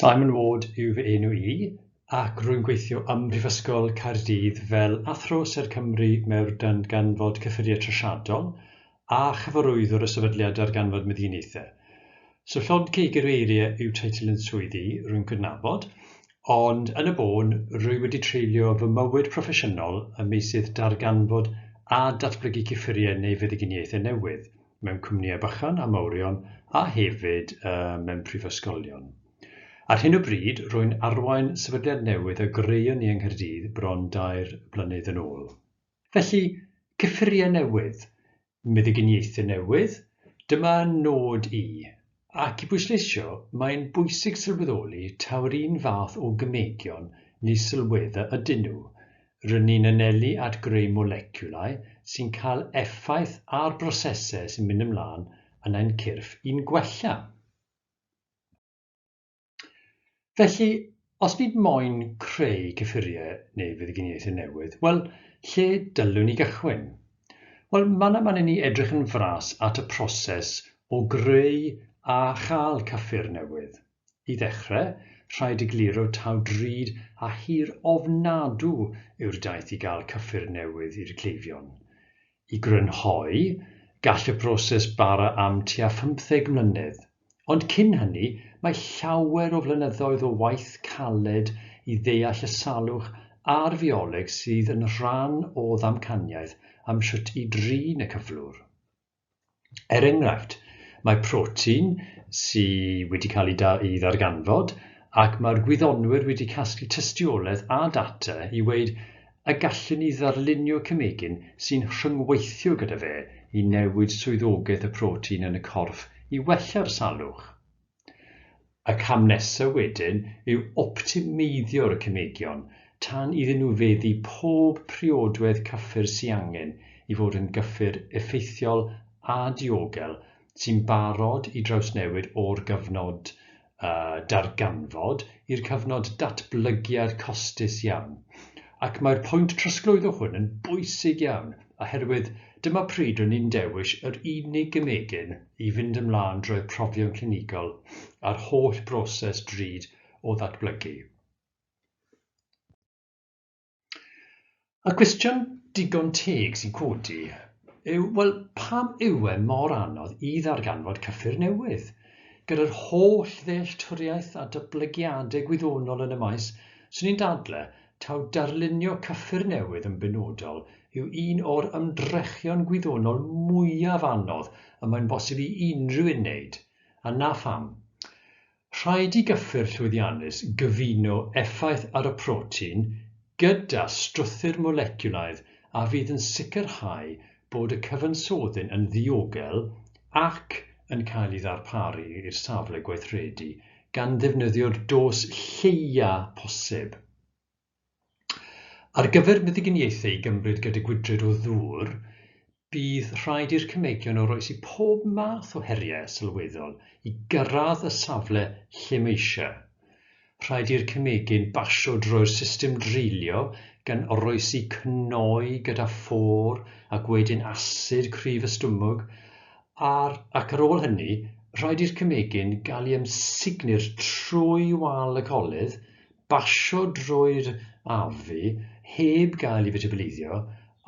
Simon Ward yw fy enw i ac rwy'n gweithio ym Mhrifysgol Caerdydd fel Athro Sêr Cymru Meurdan gan fod cyffuriau trosiadol a chyfarwyddwr y Sefydliad Darganfod Meddiniaethau. So llond cig yr eiriau yw teitl yn swydd i, rwy'n cydnabod, ond yn y bôn, rwy wedi treulio fy mywyd proffesiynol ym meysydd darganfod a datblygu cyffuriau neu feddyginiaethau newydd, mewn cwmnïau bychan a mawrion a hefyd uh, mewn prifysgolion. Ar hyn o bryd, rwy'n arwain sefydliad newydd a greuon ni yng Nghaerdydd bron dair blynedd yn ôl. Felly, cyffuriau newydd, meddyginiaethau newydd, dyma nod i. Ac i bwysleisio, mae'n bwysig sylweddoli taw'r un fath o gymegion neu sylweddau ydyn nhw. Rŷn ni'n anelu at greu moleciwlau sy'n cael effaith ar brosesau sy'n mynd ymlaen yn ein cyrff i'n gwella. Felly, os nid moyn creu cyffuriau neu feddyginiaethau newydd, wel, lle dylwn ni gychwyn? Wel, mae yna man i ni edrych yn fras at y proses o greu a chael cyffur newydd. I ddechrau, rhaid egluro taw drud a hir ofnadw yw'r daith i gael cyffur newydd i'r cleifion. I grynhoi, gall y broses bara am tua phymtheg mlynedd. Ond cyn hynny, mae llawer o flynyddoedd o waith caled i ddeall y salwch a'r fioleg sydd yn rhan o ddamcaniaeth am sut i drin y cyflwr. Er enghraifft, mae protein sy wedi cael ei ddarganfod ac mae'r gwyddonwyr wedi casglu tystiolaeth a data i weud y gallu ni ddarlunio cemegyn sy'n rhyngweithio gyda fe i newid swyddogaeth y protein yn y corff i wella'r salwch. Y cam nesaf wedyn yw optimeiddio'r cemegion tan iddyn nhw feddu pob priodwedd cyffur sy angen i fod yn gyffur effeithiol a diogel sy'n barod i drawsnewid o'r gyfnod a darganfod i'r cyfnod datblygiad costus iawn, ac mae'r pwynt trosglwyddo hwn yn bwysig iawn oherwydd dyma pryd rŷn ni'n dewis yr unig gemegyn i fynd ymlaen drwy'r profion clinigol a'r holl broses drud o ddatblygu. Y cwestiwn digon teg sy'n codi yw, wel, pam yw e mor anodd i ddarganfod cyffur newydd? Gyda'r holl ddealltwriaeth a datblygiadau gwyddonol yn y maes, swn i'n dadle taw darlunio cyffur newydd yn benodol yw un o'r ymdrechion gwyddonol mwyaf anodd y mae'n bosib i unrhyw un wneud. A na pham. Rhaid i gyffur llwyddiannus gyfuno effaith ar y protein gyda strwythur moleciwlaidd a fydd yn sicrhau bod y cyfansoddyn yn ddiogel ac yn cael ei ddarparu i'r safle gweithredu, gan ddefnyddio'r dos lleia' posib. Ar gyfer meddyginiaethau i gymryd gyda gwydred o ddŵr, bydd rhaid i'r cemeggion oroesi pob math o heriau sylweddol i gyrraedd y safle lle mae eisiau. Rhaid i'r cemegyn basio drwy'r system dreulio gan oroesi cnoi gyda phôr ac wedyn asid cryf y stumog, ar, ac ar ôl hynny, rhaid i'r cemegyn gael ei amsugnu'r trwy wal y collydd basio drwy'r AFI heb gael ei fetibyleiddio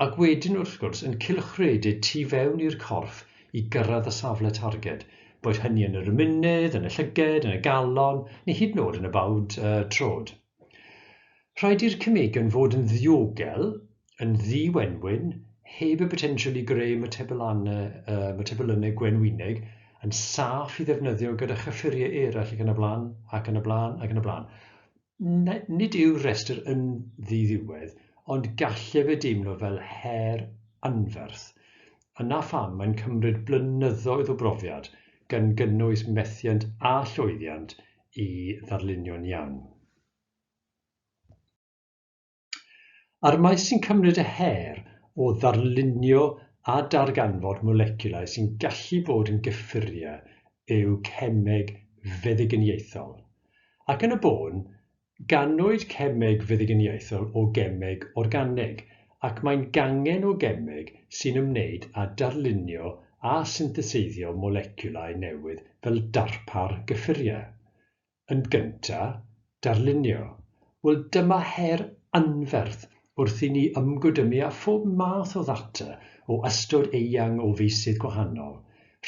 ac wedyn wrth gwrs yn cylchredeg tu fewn i'r corff i gyrraedd y safle targed, boed hynny yn yr ymennydd, yn y llyged, yn y galon neu hyd yn oed yn y bawd trod. Rhaid i'r cemegyn fod yn ddiogel yn ddi-wenwyn, heb y potensial i greu matebylanne gwenwyneg, yn saff i ddefnyddio gyda chyffuriau eraill ac yn y blaen, ac yn y blaen, ac yn y blaen. Nid yw'r rhestr yn ddi-ddiwedd, ond gallai fe deimlo fel her anferth. Yna pham mae'n cymryd blynyddoedd o brofiad, gan gynnwys methiant a llwyddiant, i ddarlunio'n iawn. A'r maes sy'n cymryd y her o ddarlunio a darganfod moleciwlau sy'n gallu bod yn gyffuriau yw cemeg feddyginiaethol. Ac yn y bôn, ganwyd cemeg feddyginiaethol o gemeg organig, ac mae'n gangen o gemeg sy'n ymwneud â darlunio a syntheseiddio moleciwlau newydd fel darpar gyffuriau. yn gyntaf, darlunio, wel dyma her anferth wrth i ni ymgwydymu â phob math o ddata o ystod eang o feysydd gwahanol,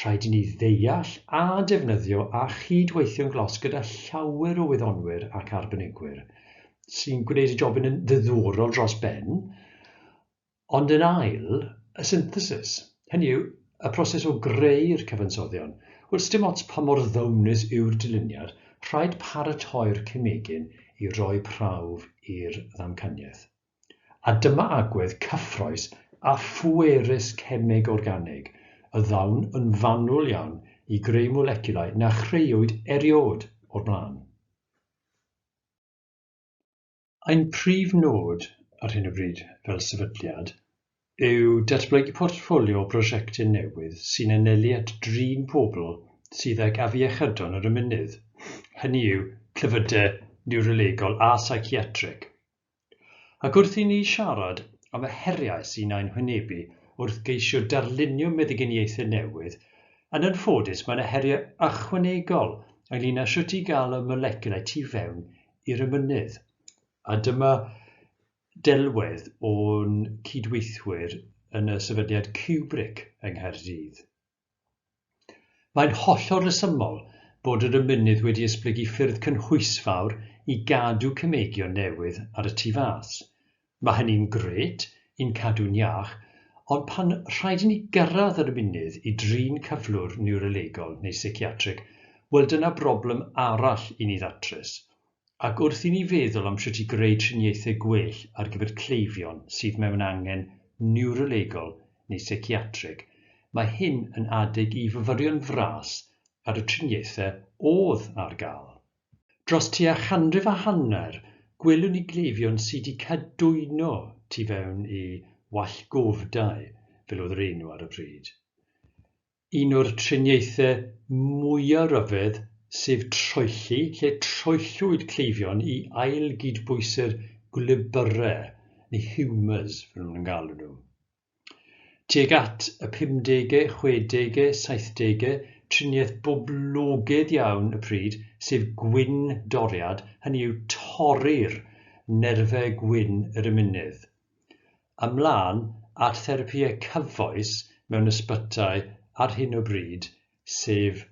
rhaid i ni ddeall a defnyddio a chyd-weithio'n glos gyda llawer o wyddonwyr ac arbenigwyr sy'n gwneud y job yn un ddiddorol dros ben, Ond yn ail, y synthesis, hynny yw, y proses o greu'r cyfansoddion, wel, sdim ots pa mor ddonus yw'r dyluniad, rhaid paratoi'r cemegyn i roi prawf i'r ddamcaniaeth. A dyma agwedd cyffrous a phwerus cemeg organig y ddawn yn fanwl iawn i greu moleciwlau na chreuwyd eriôd o'r blaen. Ein prif nod ar hyn o bryd fel sefydliad yw datblygu portffolio o brosiectau newydd sy'n anelu at drin pobl sydd ag afiechydon yr ymennydd, hynny yw clefydau niwrolegol a seiciatrig. Ac wrth i ni siarad am y heriau sy'n ein hwynebu wrth geisio darlunio meddyginiaethau newydd, yn anffodus mae yna heriau ychwanegol ynglŷn â sut i gael y moleciwlau tu fewn i'r emynydd. A dyma delwedd o'n cydweithwyr yn y sefydliad Cubric yng Nghaerdydd. Mae'n hollol resymol bod yr emynydd wedi esblygu ffyrdd cynhwysfawr i gadw cemegion newydd ar y tu fas, Mae hynny'n grêt, yn cadw'n iach, ond pan rhaid i ni gyrraedd yr ymunydd i drin cyflwr niwrolegol neu seiciatrig, wel dyna broblem arall i ni ddatrys. Ac wrth i ni feddwl am sut i greu triniaethau gwell ar gyfer cleifion sydd mewn angen niwrolegol neu seiciatrig, mae hyn yn adeg i fyfyrio'n fras ar y triniaethau oedd ar gael. Dros tua chanrif a hanner, gwelwn ni gleifion sy' 'di cadwyno tu fewn i wallgofdau, fel oedd yr enw ar y pryd. Un o'r triniaethau mwya' ryfedd, sef troelli, lle troellwyd cleifion i ail-gydbwyso'r gwlybyrau, neu humours fel o'n nhw'n galw nhw. Tuag at y pumdege, chwedege, saithdege, triniaeth boblogaidd iawn y pryd, sef gwin doriad, hynny yw torri'r nerfau gwyn yr ymennydd. Ymlaen at therapïau cyfoes mewn ysbytai ar hyn o bryd, sef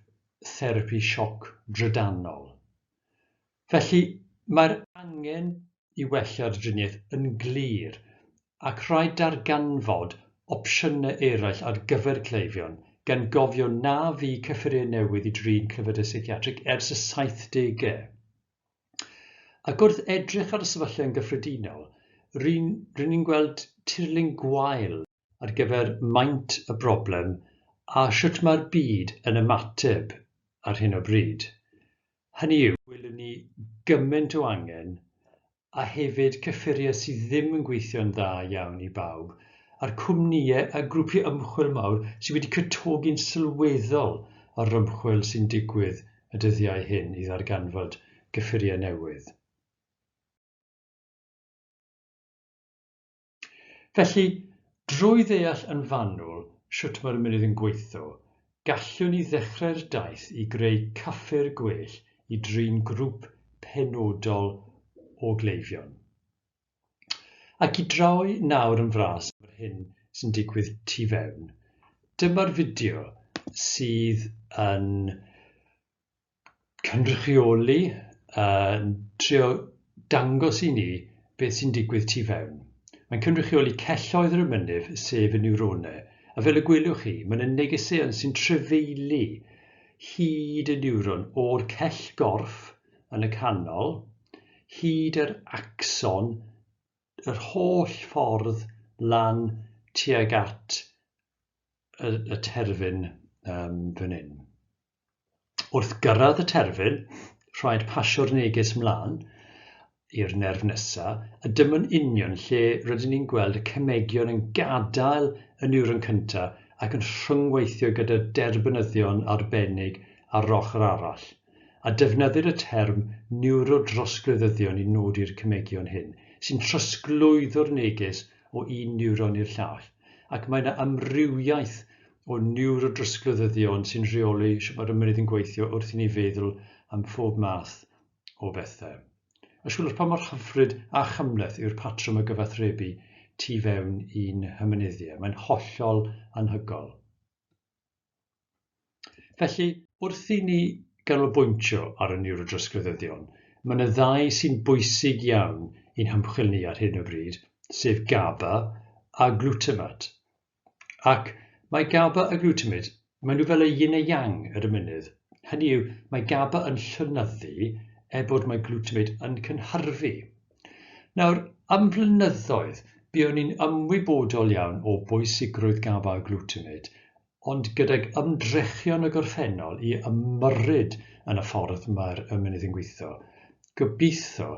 therapi sioc drydanol. Felly, mae'r angen i wella'r driniaeth yn glir ac rhaid darganfod opsiynau eraill ar gyfer cleifion, gan gofio na fu cyffuriau newydd i drin clefydau seiciatrig ers y saithdegau. Ac wrth edrych ar y sefyllfa yn gyffredinol, ry'n ni'n gweld tirlun gwael. ar gyfer maint y broblem a shwt mae'r byd yn ymateb ar hyn o bryd. Hynny yw, gwelwn ni gymaint o angen a hefyd cyffuriau sydd ddim yn gweithio'n dda iawn i bawb, a'r cwmnïau a grwpiau ymchwil mawr sydd wedi cytogi'n sylweddol ar yr ymchwil sy'n digwydd y dyddiau hyn i ddarganfod cyffuriau newydd. Felly, drwy ddeall yn fanwl sut mae'r mynydd yn gweitho, gallwn ni ddechrau'r daith i greu caffi'r gwell i drin grŵp penodol o gleifion. Ac i droi nawr yn fras am yr hyn sy'n digwydd tu fewn, dyma'r fideo sydd yn cynrychioli yn trio dangos i ni beth sy'n digwydd tu fewn. Mae'n cynrychioli celloedd yr ymennydd, sef y niwrone, a fel y gwelwch chi, mae'n y negeseuon sy'n trefeili hyd y niwron o'r cell gorff yn y canol, hyd yr axon, yr holl ffordd lan tuag at y, y terfyn um, fan hyn. Wrth gyrraedd y terfyn, rhaid pasio'r neges 'mlaen i'r nerf nesa', a dyma'n union lle rydyn ni'n gweld y cemegion yn gadael y niwron cyntaf ac yn rhyngweithio gyda derbynyddion arbennig ar yr ochr arall, a defnyddir y term 'niwrodrosglwyddyddion' i nodi'r cemegion hyn, sy'n trosglwyddo'r neges o un niwron i'r llall, ac mae yna amrywiaeth o niwrodrysglydyddion sy'n rheoli shwt mae'r ymennydd yn gweithio wrth i ni feddwl am phob math o bethau. Ysgwelwch pa mor hyfryd a chymhleth yw'r patrwm o gyfathrebu tu fewn i'n hymennyddie. Mae'n hollol anhygol. Felly, wrth i ni ganolbwyntio ar y niwrodrysglydyddion, mae yna ddau sy'n bwysig iawn i'n hymchwil ni ar hyn o bryd, sef GABA a glutamate. Ac mae GABA a glutamate, maen nhw fel y yin a yang yr ymennydd. Hynny yw, mae GABA yn llynyddu er bod mae glutamate yn cynhyrfu. Nawr, am flynyddoedd, buon ni'n ymwybodol iawn o bwysigrwydd GABA a glutamate, ond gydag ymdrechion y gorffennol i ymyrryd yn y ffordd mae'r ymennydd yn gweithio, gobeithio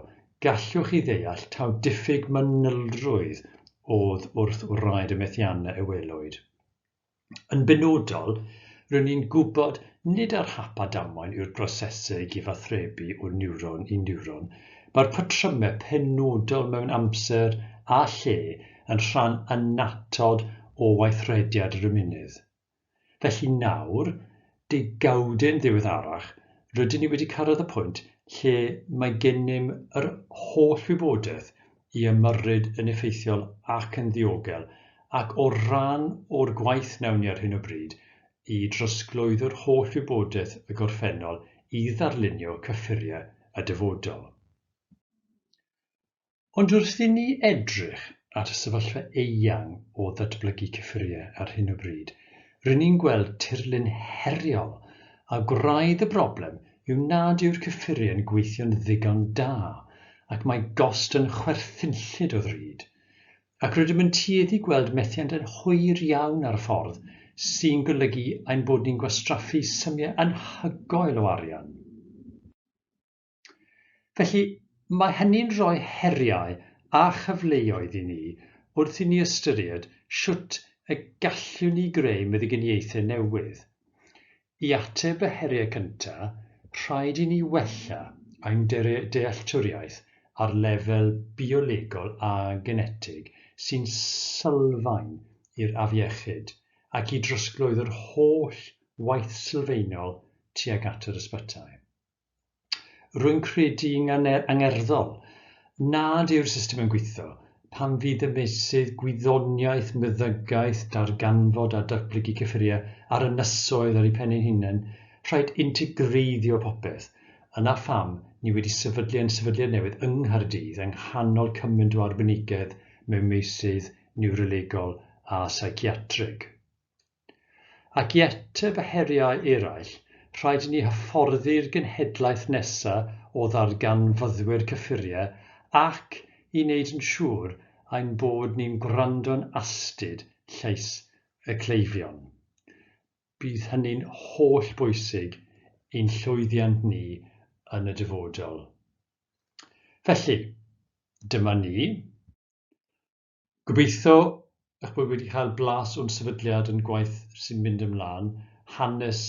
Gallwch chi ddeall taw diffyg manylrwydd oedd wrth wraidd y methiannau y welwyd. Yn benodol, rŷn ni'n gwybod nid ar hap a damwain yw'r brosesau gyfathrebu o niwron i niwron, mae'r patrymau penodol mewn amser a lle yn rhan annatod o weithrediad yr ymennydd. Felly nawr, degawdyn ddiweddarach, rydyn ni wedi cyrraedd y pwynt lle mae gennym yr holl wybodaeth i ymyrryd yn effeithiol ac yn ddiogel, ac o ran o'r gwaith wnawn ni ar hyn o bryd, i drosglwyddo'r holl wybodaeth y gorffennol i ddarlunio cyffuriau y dyfodol. Ond wrth i ni edrych at y sefyllfa eang o ddatblygu cyffuriau ar hyn o bryd, ry'n ni'n gweld tirlun heriol, a gwraidd y broblem yw nad yw'r cyffuriau'n gweithio'n ddigon da ac mae gost yn chwerthinllyd o ddrud. Ac rydym yn tueddu gweld methiant yn hwyr iawn ar y ffordd, sy'n golygu ein bod ni'n gwastraffu symiau anhygoel o arian. Felly, mae hynny'n rhoi heriau a chyfleoedd i ni wrth i ni ystyried sut y gallwn ni greu meddyginiaethau newydd. I ateb y heriau cyntaf, rhaid i ni wella ein dealltwriaeth ar lefel biolegol a genetig sy'n sylfaen i'r afiechyd ac i drosglwyddo'r holl waith sylfaenol tuag at yr ysbytai. Rwy'n credu'n angerddol nad yw'r system yn gweithio pan fydd y meysydd gwyddoniaeth, meddygaeth, darganfod a datblygu cyffuriau a'r ynysoedd ar eu pen eu hunain, rhaid integreiddio popeth. Yna pham ni wedi sefydlu ein sefydliad newydd yng Nghaerdydd yng nghanol cymaint o arbenigedd mewn meysydd niwrolegol a seiciatrig. Ac i ateb y heriau eraill, rhaid i ni hyfforddi'r genhedlaeth nesa' o ddarganfyddwyr cyffuriau ac i wneud yn siŵr ein bod ni'n gwrando'n astud llais y cleifion. Bydd hynny'n holl bwysig i'n llwyddiant ni yn y dyfodol. Felly, dyma ni. Gobeithio eich bod wedi cael blas o'n sefydliad, ein gwaith sy'n mynd ymlaen, hanes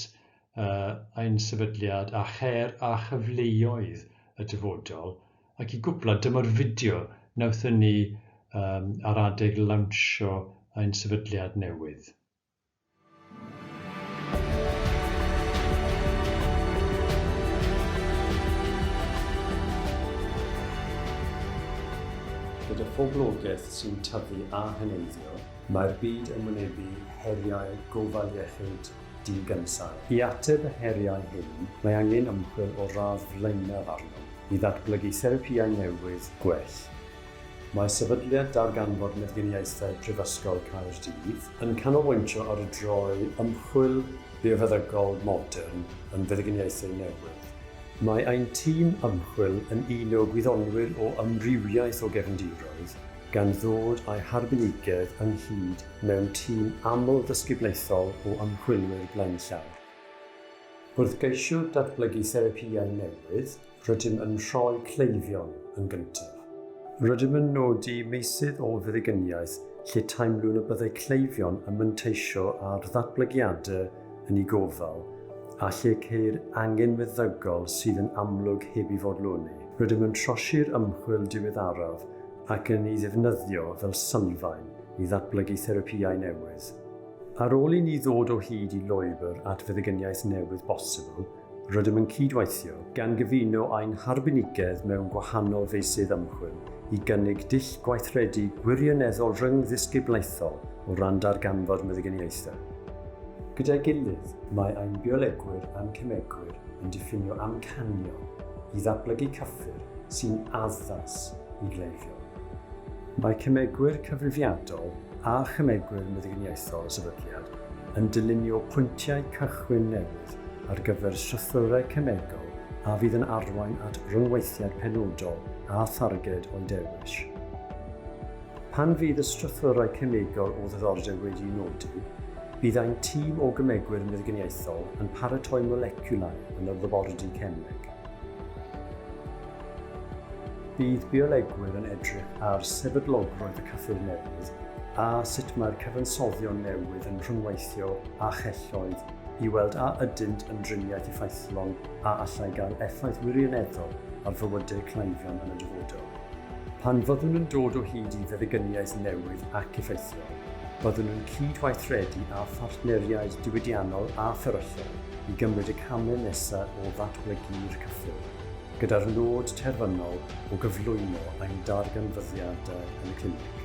uh, ein sefydliad a cher a chyfleoedd y dyfodol. Ac i gwpla, dyma'r fideo nawthon ni um, ar adeg lawnsio ein sefydliad newydd. Gyda phoblogaeth sy'n tyfu a heneiddio, mae'r byd yn wynebu heriau gofal iechyd digynsail. I ateb y heriau hyn, mae angen ymchwil o radd flaenaf arnom i ddatblygu therapïau newydd gwell, Mae Sefydliad Darganfod Meddyginiaethau Prifysgol Caerdydd yn canolbwyntio ar droi ymchwil biofeddygol modern yn feddyginiaethau newydd. Mae ein tîm ymchwil yn un o gwyddonwyr o amrywiaeth o gefndiroedd, gan ddod â'i harbenigedd ynghyd mewn tîm amlddisgyblaethol o ymchwilwyr blaenllawr. Wrth geisio datblygu therapïau newydd, Rydym yn rhoi cleifion yn gyntaf. Rydym yn nodi meysydd o feddigyniaeth lle teimlwn y byddai cleifion yn manteisio ar ddatblygiadau yn eu gofal a lle ceir angen meddygol sydd yn amlwg heb ei fodloni. Rydym yn trosi'r ymchwil diweddaraf ac yn ei ddefnyddio fel sylfaen i ddatblygu therapïau newydd. Ar ôl i ni ddod o hyd i lwybr at feddigyniaeth newydd bosibl, Rydym yn cydweithio, gan gyfuno ein harbenigedd mewn gwahanol feysydd ymchwil, i gynnig dull gweithredu gwirioneddol rhyngddisgyblaethol o ran darganfod meddyginiaethau. Gyda'i gilydd, mae ein biolegwyr a'n cemegwyr yn diffinio amcanion i ddatblygu cyffur sy'n addas i gleifion. Mae cemegwyr cyfrifiadol a chemegwyr meddyginiaethol y sefydliad yn dylunio pwyntiau cychwyn newydd ar gyfer strwythurau cemegol a fydd yn arwain at ryngweithiad penodol â tharged o'i dewis. Pan fydd y strwythurau cemegol o ddiddordeb wedi'u nodi, bydd ein tîm o gemegwyr meddyginiaethol yn paratoi moleciwlau yn yr labordy cemeg. Bydd biolegwyr yn edrych ar sefydlogrwydd y cyffur newydd a sut mae'r cyfansoddion newydd yn rhyngweithio â chelloedd i weld a ydynt yn driniaeth effeithlon a allai gael effaith wirioneddol ar fywydau cleifion yn y dyfodol. Pan fyddwn yn dod o hyd i feddygyniaeth newydd ac effeithiol, byddwn yn cyd-weithredu â phartneriaid diwydiannol a fferyllol i gymryd y camau nesaf o ddatblygu'r cyffur, gyda'r nod terfynol o gyflwyno ein darganfyddiadau yn y clinig.